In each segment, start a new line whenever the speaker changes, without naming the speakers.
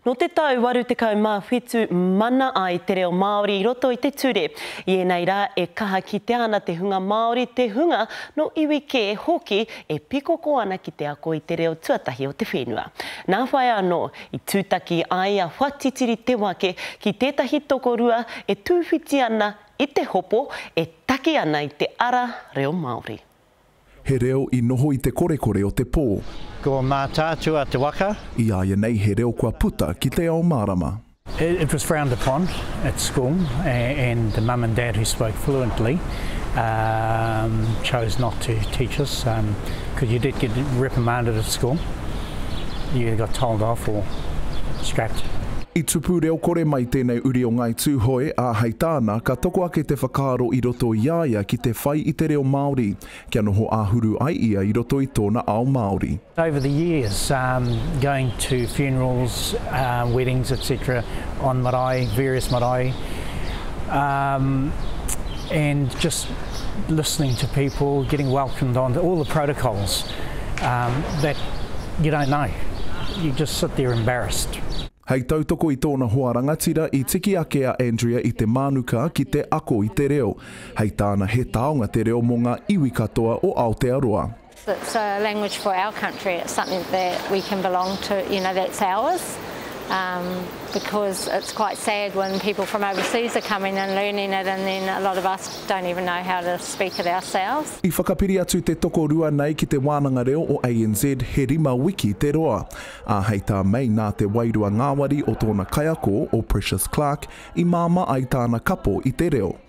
Nō te tau 87 mana ai te reo Māori i roto i te ture. I ēnei rā e kaha kitea ana te hunga Māori, te hunga nō iwi kē hoki e pikoko ana ki te ako i te reo tuatahi o te whenua. Nā whai anō, i tūtaki ai a Whatitiri Te Wake ki tētahi tokorua e tūwhiti ana i te hopo e taki ana i te ara reo Māori. He reo
i noho i te korekore o te pō. Ko
Mātaatua te waka. I āianei he
reo kua puta ki te ao mārama. It was frowned
upon at school and the mum and dad who spoke fluently chose not to teach us because you did get reprimanded at school. you either got told off or scrapped. I tupu
reo kore mai tēnei uri o Ngāi Tūhoe, ā, hei tāna, ka toko ake te whakaaro i roto i a ia ki te whai i te reo Māori, kia noho āhuru ai ia i roto i tōna ao Māori. Over the years,
um, going to funerals, um, weddings, etc. On marae, various marae, um, and just. listening to people, getting welcomed on, all the protocols um, that you don't know. You just sit there embarrassed. Hei tautoko
i tōna hoa rangatira i tiki ake a Andrea i te mānuka ki te ako i te reo. Hei tāna he taonga te reo mō ngā iwi katoa o Aotearoa. It's a
language for our country, it's something that we can belong to, you know, that's ours, because it's quite sad when people from overseas are coming and learning it and then a lot of us don't even know how to speak it ourselves. I whakapiri atu te
tokorua nei ki Te Wānanga Reo o ANZ he rima wiki te roa, ā, hei tā Mei nā te wairua ngāwari o tōna kaiako, o Precious Clarke, i māmā ai tāna kapo i te reo.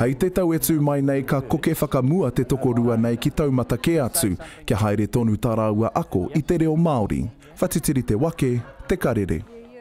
Hei te tau e tū
mai nei ka koke whakamua te tokorua nei ki taumata kē atu kia haere tonu tā rāua ako i te reo Māori. Whatitiri te wake, te karere.